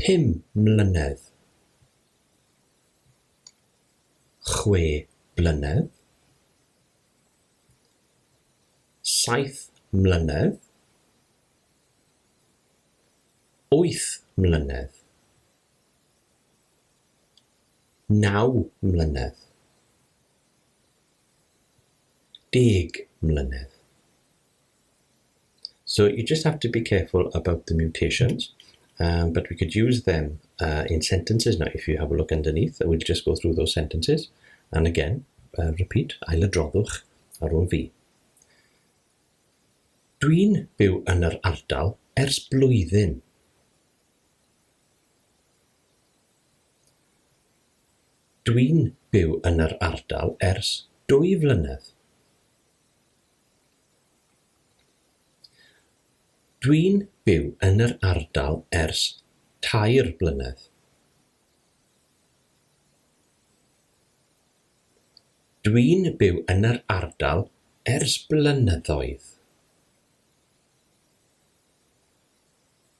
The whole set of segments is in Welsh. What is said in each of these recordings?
Pum mlynedd? Chwe blynedd? Saith mlynedd? Wyth mlynedd? Naw mlynedd? Deg mlynedd? So you just have to be careful about the mutations, um, but we could use them uh, in sentences now. If you have a look underneath, we'll just go through those sentences. And again, uh, repeat, ailadroddwch ar ôl fi. Dwi'n byw yn yr ardal ers blwyddyn. Dwi'n byw yn yr ardal ers dwy flynedd. Dwi'n byw yn yr ardal ers tair blynedd. Dwi'n byw yn yr ardal ers blynyddoedd.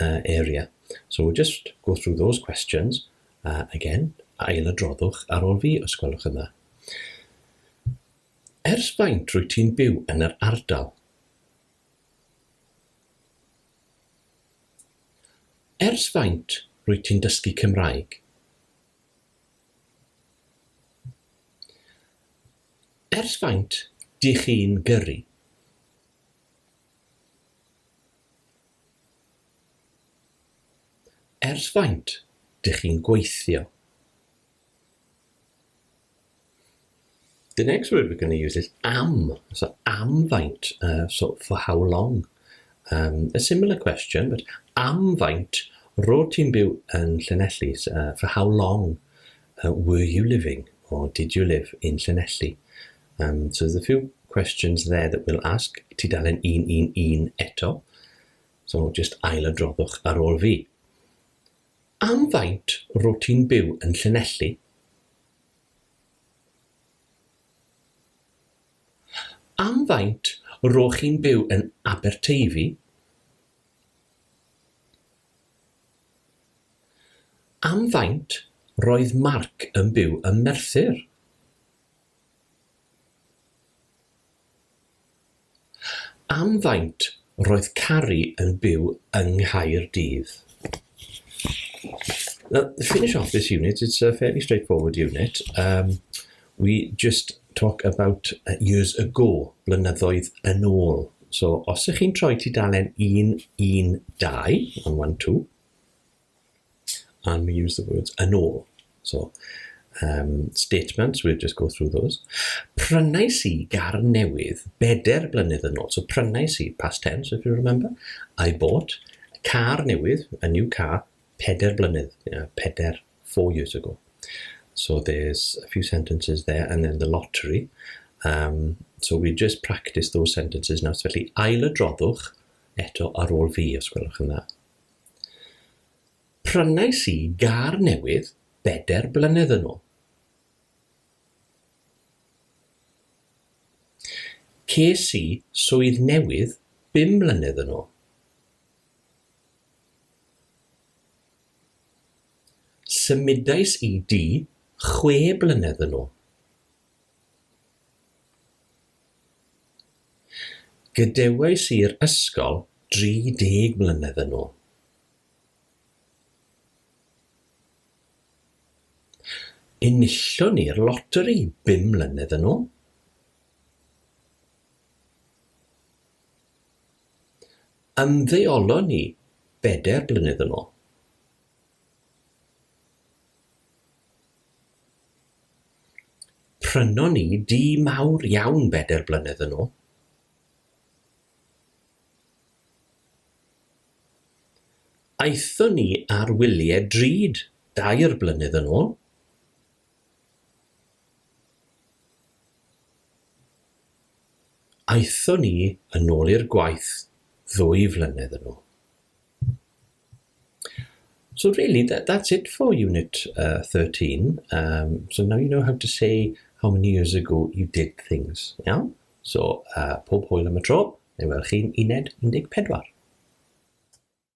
uh, area. So we'll just go through those questions uh, again, a ail adroddwch ar ôl fi os gwelwch yn dda. Ers faint rwy ti'n byw yn yr ardal? Ers faint rwy ti'n dysgu Cymraeg? Ers faint dych chi'n gyrru? Ers faint dych chi'n gweithio? The next word we're going to use is am. So am faint, uh, so for how long. Um, a similar question, but am faint rod ti'n byw yn Llanelli? Uh, for how long? A were you living or did you live in Llanelli? Yym so there's a few questions there that we'll ask. Tudalen 111 eto, so jyst ailadroddwch ar ôl fi. Am faint rwyt ti'n byw yn Llanelli? Am faint rwyt chi'n byw yn Aberteifi? Am faint roedd Mark yn byw ym Merthyr? Am faint roedd Carrie yn byw yng Nghaerdydd? Now, the finish off this unit, it's a fairly straightforward unit. Um, We just talk about years ago, blynyddoedd yn ôl. So, os ych chi'n troi tudalen 112, on 1, 2, and we use the words yn ôl. So, um, statements, we'll just go through those. Prynais i gar newydd beder blynedd yn ôl. So, prynais i, past tense, if you remember. I bought, car newydd, a new car, peder blynedd, yeah, peder four years ago. So there's a few sentences there, and then the lottery. Um, so we just practice those sentences now. So felly, ail y droddwch eto ar ôl fi, os gwelwch yn dda. Prynais i gar newydd beder blynedd yn ôl. Ces i swydd newydd bum mlynedd yn ôl. Symudais i du chwe blynedd yn ôl. Gadewais i'r ysgol 30 mlynedd yn ôl. Enillwn i'r loteri bum mlynedd yn ôl. ymddeolon ni bedair blynedd yn ôl. Prynon ni dŷ mawr iawn bedair blynedd yn ôl. Aethon ni ar wyliau drud dair blynedd yn ôl. Aethon ni yn ôl i'r gwaith ddwy flynedd yn ôl. So really, that, that's it for Unit uh, 13. Um, so now you know how to say how many years ago you did things. Iawn? So, uh, pob hwyl am y tro, neu welwch chi'n uned 14.